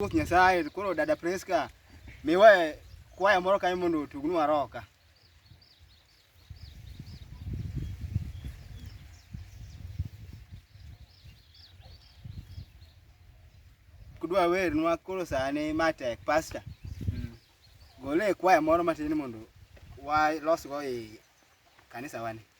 Ruoth Nyasaye, koro dada Priska, miwe kwaya moro kanyo mondo otugnwa roka. Kudwa wernwa koro sani matek, pasta. Mm. Gole kwaya moro matin mondo walosgo i kanisa wani.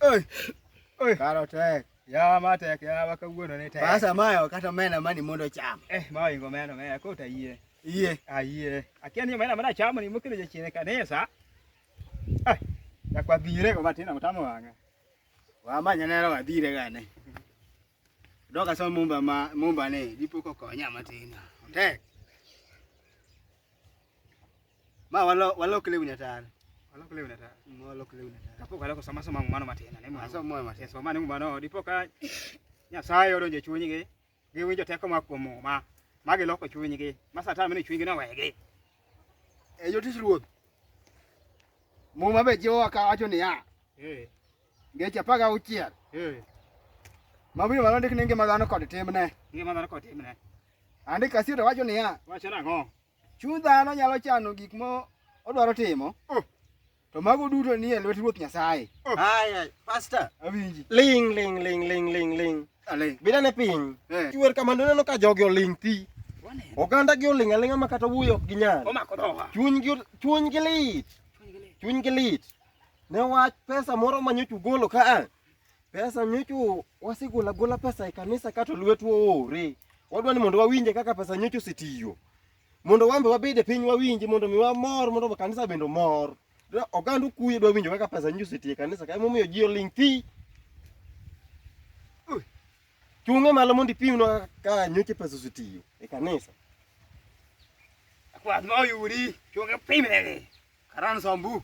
Oi. Oi. Karo tek. Yawa ma tek, yawa kawuono ni tek. Pasa mayo kata omena mani mondo ocham. Eh, ma oingo omena, omena kota yie. Yie. Ah, yie. Akia ni omena mana chamo ni mokelo jachien e kanisa. Ah, yakwa dhire go matin amtamo wang'a. Wamanya nero wadhire gane. Doka so mumba ma mumba ni dipo kokonya matin. Tek. Ma walo walo kile unya tar. Walo kile unya tar. Ma walo kile unya tar. Kapo kala ko sama sama mano matena ne mano. Sama mano matena. Sama ne mano dipo ka Nyasaye odonje chuny gi. Gi winjo teko ma kuom ma. Ma gi loko chuny gi. Ma satan mene chuny gi na wege. E yo tis ruoth. Mo ma be jiwa ka wacho ni ya. Eh. Ngecha paga uchiel. Eh. Ma winyo malo ndik ni ngima dhano kod timne. Ngima dhano kod timne. Andika sio to wacho ni ya. Wacho na ngo. Chuny dhano nyalo chano gik ma odwaro timo. Oh. To mago duto nie lwet Ruoth Nyasaye. Oh. Aya, pastor. Awinji. Ling ling ling ling ling ling. Aling. Bila ne piny. Eh. Chuwer kama neno ka jogi oling thi. Oganda gi oling alinga ma kata wuyo ok ginyal. Omako dhoga. Chuny gi chuny gi lit. Chuny gi lit. Ne wach pesa moro manyochu golo ka a. Pesa nyocho wasigula gula pesa e kanisa kato lwetwa oore. Wadwa ni mondo wawinje kaka pesa nyocho sitiyo. Mondo wambe wabede piny wawinje mondo mi wamor mondo kanisa bendo mor. Oganda okuye dwa winjo kaka pesa nyocho sitiyo e kanisa kae momiyo ji oling thi. Chunge malo mondo ipimnwa kaka nyocho pesa sitiyo e kanisa. Kwath ma oyudi chunge pimnegi. Karan sombu.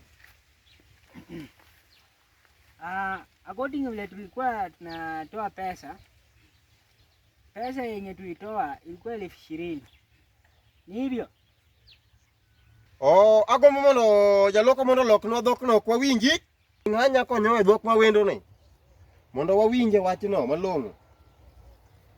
Uh, according vile tulikuwa tunatoa pesa, pesa yenye tulitoa ilikuwa elfu ishirini. Ni hivyo. Oh, ako mono jaloko mono lok no dhok no kwa winji. Ng'anya konyo e dhok ma wendo ni. Mondo wawinje wachno malong'o.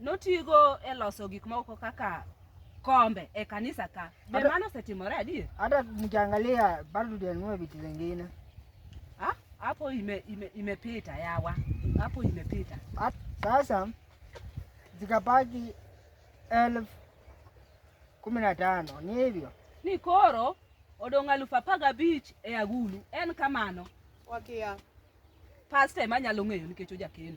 notigo e loso gik moko kaka kombe e kanisa ka. Be Ada- mano osetimore adier? Hata mkiangalia bado tujanunua vitu zingine. Ah, hapo ime, ime, imepita yawa, hapo imepita. Hat- Sasa zikabaki elfu kumi na tano ni hivyo. Ni koro odong' alufu apar gabich e agulu en kamano. Wakia. Pasta ema nyalo ng'eyo nikech ojakeno.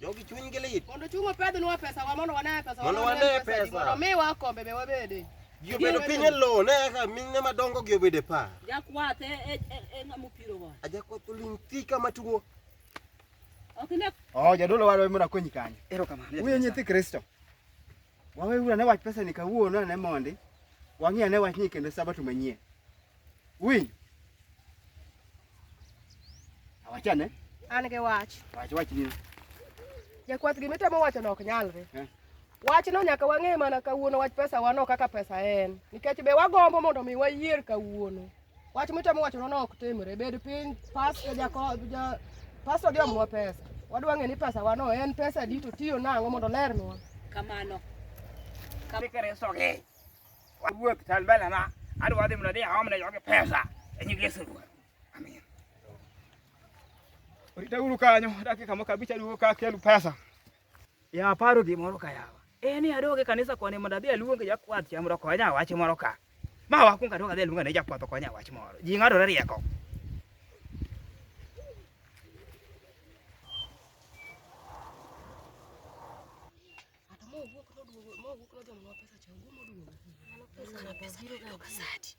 Jogi chunygi lit. Mondo chung' opedhnwa pesawa mondo wane pesawa. Mondo wane pesa. Mondo miwa kombe be wabede. Ji obedo piny e lowo ne eka mine madongo gi obedo e pa. Jakwath e, e, e, e ng'ama opirowa. Ajakwath oling' thi kama tuo. Ok ne. Oh, jadolo warwa mondo akonyi kanyo. Erokamano. Uye nyithi Kristo. Waweuru ane wach pesani kawuono ane mondi wang'i ane wachni kendo sabato manyien. Winj. Awach ane. An gi wach. Wach wach ni. Jakwath gima itemo wacho no ok nyalre. Eh. Wachno nyaka wang'e mana kawuono wach pesa wano kaka pesa en. Nikech be wagombo mondo mi wayier kawuono. Wach mitemo wacho nono ok timre. Bed piny pastor jako ja pastor gi omwa pesa. Wadwa ng'e ni pesa wano en pesa di to tiyo nang'o mondo lernwa. Kamano. Kamikere soge. Wuok talbala ma adwa dhi mna dhi aomne yoge pesa. Enyi Yesu. Amen. Orita uru kanyo dakika moko abich aduogo ka kelu pesa. Ya aparo gimoro ka yawa. Eh ni adoge e kanisa koni mondo adhi aluong e jakwath cha mondo okonya wach moro ka. Ma wakuong adoge adhi aluonga ne jakwath okonya wach moro. Ji ng'adore rieko. Mowuok noduogo, mowuok nodhi omiwa pesa cha, owuok moduogo. Pesa biro ga sati.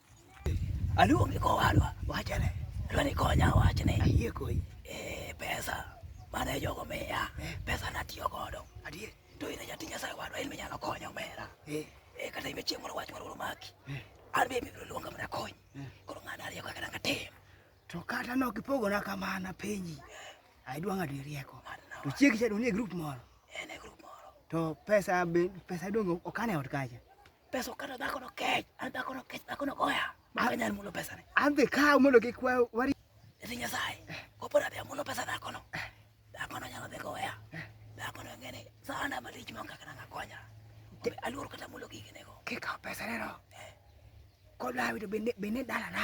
Aluonge kowadwa, wachene. Dwa ni konya wachne. Ayie koi. Eh, pesa mane jogo miya, eh. pesa natiyo godo. Adier. To in jatich Nyasaye wadwa, in minyalo konya omera. Eh. Eh, kata ime chieng' moro wach moro oromaki. Eh. An be ibiro luonga mondo akony. Eh. Koro ng'ano ariyo kaka dang' atim. To kata nok ipogona kamana penji. Eh. Ai dwa ng'ado rieko. To chiegi cha dong' nie grup moro. Eh, ne grup moro. To pesa be pesa dong' okan e ot kacha. Peso kata dhako no kech, an dhako no kech, dhako no goya. Mama nyar mulo pesa ne. An dhi kawo mondo kik kwa wari. Eti Nyasaye, kopo na dhia mulo pesa dhako no. Dhako no nyalo dhi goya. Dhako no ngene, sana malich mong kaka nanga konya. Aluor kata mulo gigi nego. Kikawo pesa ne no. Kodlawi to bende bende dalana.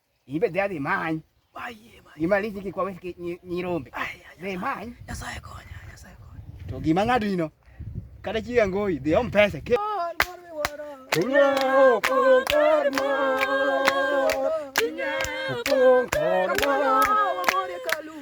ibe dadi many imaliji gi kwawe nyirombe dhi many to gima ng'ado ino kata chi angoyi dhi om pesa ke Kor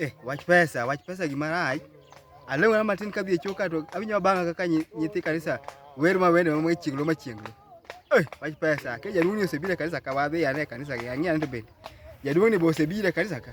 Eh, wach pesa, wach pesa gima rach. Alew na matin kadhi e choka to awinyo banga kaka nyithi kanisa wer ma wende ma chienglo ma chienglo. Eh, wach pesa. Ke jaduong' ni osebiro e kanisa ka wadhi ane e kanisa gi ang'e ane to bende. Jaduong' ni be osebiro e kanisa ka.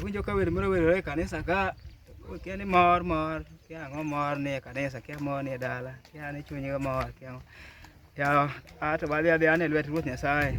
Awinjo ka wer moro werore e kanisa ka kia ni mor mor kia ang'o mor ni e kanisa kia mor ni e dala kia ni chuny ga mor kia ang'o ya ato wadhi adhi ane lwet Ruoth Nyasaye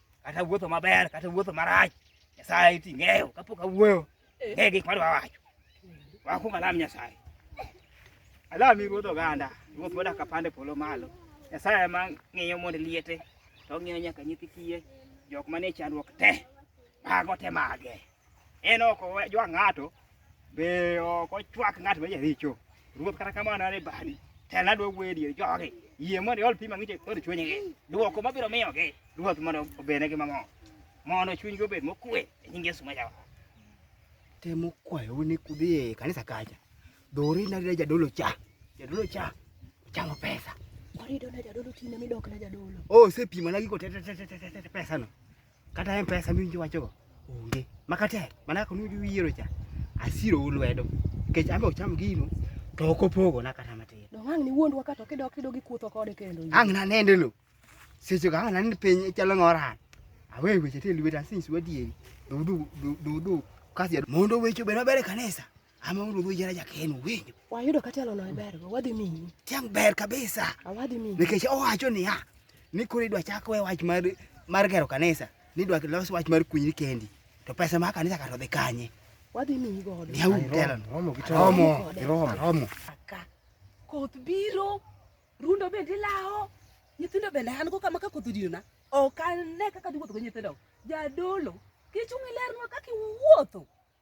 kata wuotho maber kata wuotho marach, Nyasaye iti ng'eyo kapok awuoyo ng'e gik madwa wacho. Wakuong alam Nyasaye, alami ruodh oganda, ruoth modak apande polo malo. Nyasaye ema ng'iyo mond liete to ong'iyo nyaka nyithi kiye, jok manie chandruok te mago te mage. En ok ojwa ng'ato, be ok ochwak ng'at ma jaricho. Ruoth kata kamano ne bani. Tena dwa wuoyo e dier jogi. Yie mondo iol pi mang'ich kod chunygi. Dwoko mabiro miyogi, Ruoth mondo obednegi mamor. Mondo chunygi obed mokwe e nying Yesu ma Jawar. Temo kwayo ni kudhi e kanisa kacha. Dori na rija jadolo cha. Jadolo cha. Chamo pesa. Korido na jadolo tinde midok na jadolo. Oh, sepima na giko pesa no. Kata M-Pesa miwinjo wachogo onge. Makatek, mana kaka nuwinjo wiyiero cha, asiro u lwedo. Nikech an be ocham gino, to ok opogona kata matin. Donge ang' niwuondwa ka to kidok kidok ikutho kode kendo. Ang' nanende lo. Seche go ang' nanende piny chalo ng'oran. Awe weche te lweta since wadieri. Dudu, dudu, kasi mondo weche obed maber e kanisa. ama uru dhi jara jaken winjo wayudo kata alono e ber wadhi miyi tiang ber kabisa awadhi miyi nikech owacho niya ni koro idwa chak we wach mar mar gero kanisa ni idwa los wach mar kunyri kendi to pesa ma kanisa kato dhi kanye wadhi miyi godo ni aum telan romo gi romo romo romo koth biro rundo bende lawo nyithindo bende an go kama ka koth odiyona ok ane kaka dhi wuotho gi nyithindo jadolo kichung' ilernwa kaka iwuotho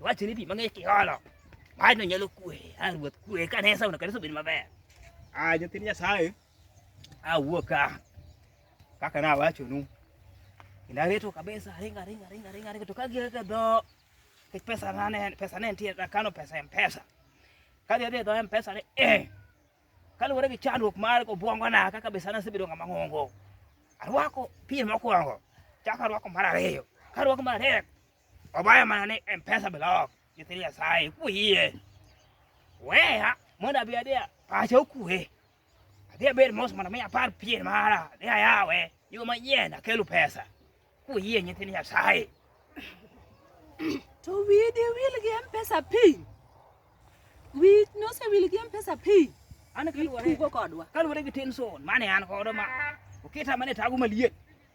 Wachni pi mang'ich kiolo. Wachno nyalo kwe. A ruoth kwe ka ne sauno kanisa obed maber. A nyithind Nyasaye. A wuok ka. Kaka na wachonu. Inareto kabisa ringa ringa ringa ringa ringa to ka gi ka do ke pesa na ne pesa ne nitie na kano pesa em pesa. Ka dhi dhi do em pesa ne eh. Kaluwore gi chandruok mar obwongo na kaka be sana sebedo ng'ama ng'ongo. Arwako pien mokwongo. Chako arwako mar ariyo. Ka arwako mar adek Obaya mana ni M-Pesa block nyithi Nyasaye kuyie. Weya mondo abi adhi pacha okue. Adhi abed mos mondo mi apar pien mara adhi ayawe yo manyien akelu pesa kuyie nyithi Nyasaye. To wiyi di wil gi M-Pesa piny. Wiyi nosewil gi M-Pesa piny. An kaluwore Itugo kodwa. kaluwore gi tension mane an godo ma oketa mane tago maliet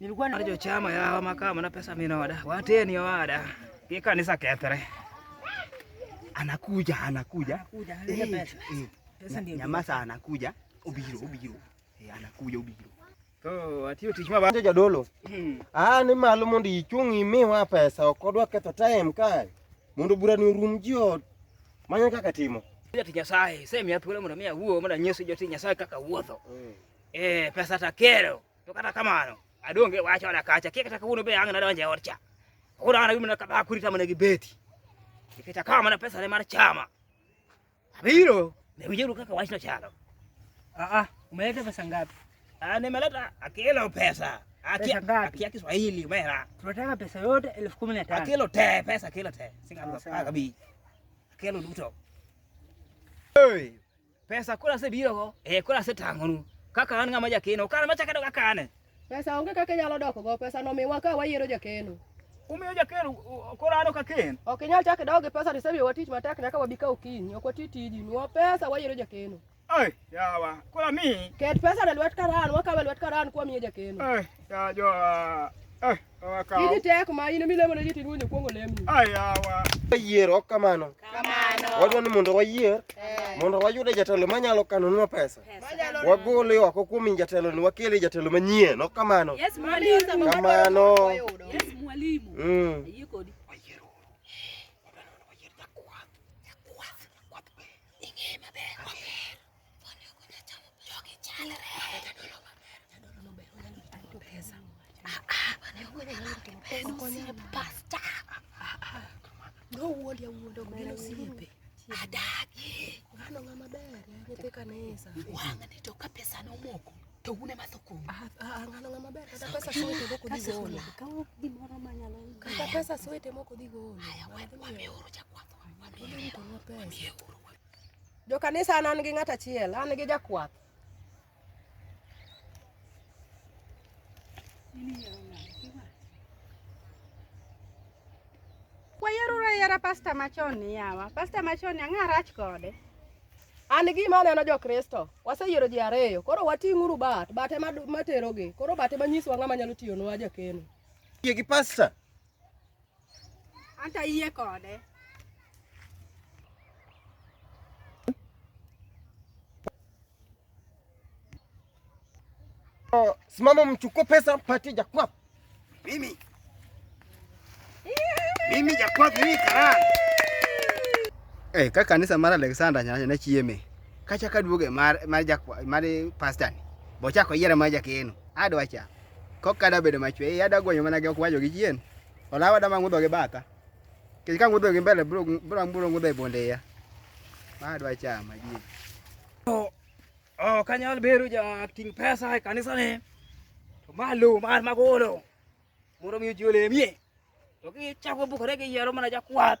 Nilikuwa na jo chama ya hawa makama na pesa mimi na wada. Wateni wada. Hii kanisa ketere. Anakuja, anakuja. Anakuja, eh, eh. pesa. Pesa ndio. Nyamasa anakuja. Ubiro, ubiro. Eh, anakuja ubiro. To atiyo tich ma banjo jadolo. Hmm. Ah, ni malo mondo ichung' imiwa pesa ok odwa ketho time kae. Mondo bura ni rum ji ot. Manya kaka timo. Ati Nyasaye, sema ya thuolo mondo miya wuo mondo anyisi joti Nyasaye kaka wuotho. Hmm. Eh, pesa takero. to kata kamano adonge wacho wala kacha kik kata kawuono be ang' nadonje od cha koro an awimna kaba kurita mana gi beti nikech akawa mana pesa ne mar chama abiro ne winjuru kaka wachno chalo ah, ah, umeleta pesa ngapi ah, nimeleta akilo pesa akia Kiswahili mera tunataka pesa yote elfu kumi na tano akilo te pesa akilo te singa kabisa akilo duto Pesa koro asebirogo, eh, koro asetang'onu. Kaka an ng'ama jakeno, kara machak adog akane. Pesa onge kaka inyalo dokogo, pesa nomiwa ka wayiero jakeno. Umiyo jakeno u- u- koro an ok aken. Ok inyal chak idog gi pesa to isemiyowa tich matek nyaka wabi ka okinyi. Ok wati tiji, miwa pesa wayiero jakeno. Ai, yawa, koro amiyi. Ket pesa e lwet karan, wakawe e lwet karan kwa miye jakeno. Ai, ya jo, ah, ai, Kawakawo. Iji tek ma in milemo ne jitend wuonyo kuongo lemi. Ayawa. Yier ok kamano. Kamano. Wadwa ni mondo wayier eh. mondo wayude jatelo manyalo kanonwa pesa. Wagole oko kuom jatelo ni wakele jatelo manyien ok kamano. Yes, mwalimu. Kamano. Yes, mwalimu. Mm. Ayie kodi. Adagi. Ngano ngama ber, nyithi kanisa. Wang'ni to ka pesa nomoko to une matho kuom. Ah, ah, ah, ngano ngama ber, kata pesa sote moko dhi golo. Kawo gimoro manyalo. Kata pesa sote moko dhi golo. Haya, wamioro jakwath. Wamioro. Wamioro. Jo kanisa an an gi ng'at achiel, an gi jakwath. Wayero ayera pasta machon ni yawa. Pasta machon ni ang'a rach kode. An gima aneno jo Kristo, waseyiero ji ariyo, koro wating'uru bat, bat ema materogi, koro bat ema nyiswa ng'ama nyalo tiyonwa jakeno. Yie gi pasta. Anta iye kode. Oh, simama mchukue pesa mpatie Jakwafu. Mimi. Mimi Jakwafu mimi karaa. Eh, hey, ka kanisa mar Alexander nyanya na chieme. Kacha kaduoge mar mar Jakwafu mar pastor. Bocha ko yiera mar Jakeno. Adwacha. Kok kada bedo machwe, iya da gonyo mana gi okwajo gi chien. Olawa da mang'udho gi batha. Kech ka ng'udho gi mbele bro bro bro ng'udho e bonde iya. Ma dwa chama ji. Oh, kanyal bedo ja ting pesa e kanisa ni. To malo mar magolo. Moro mi ji olemie. To ki chako bukore gi yero mana jakwath.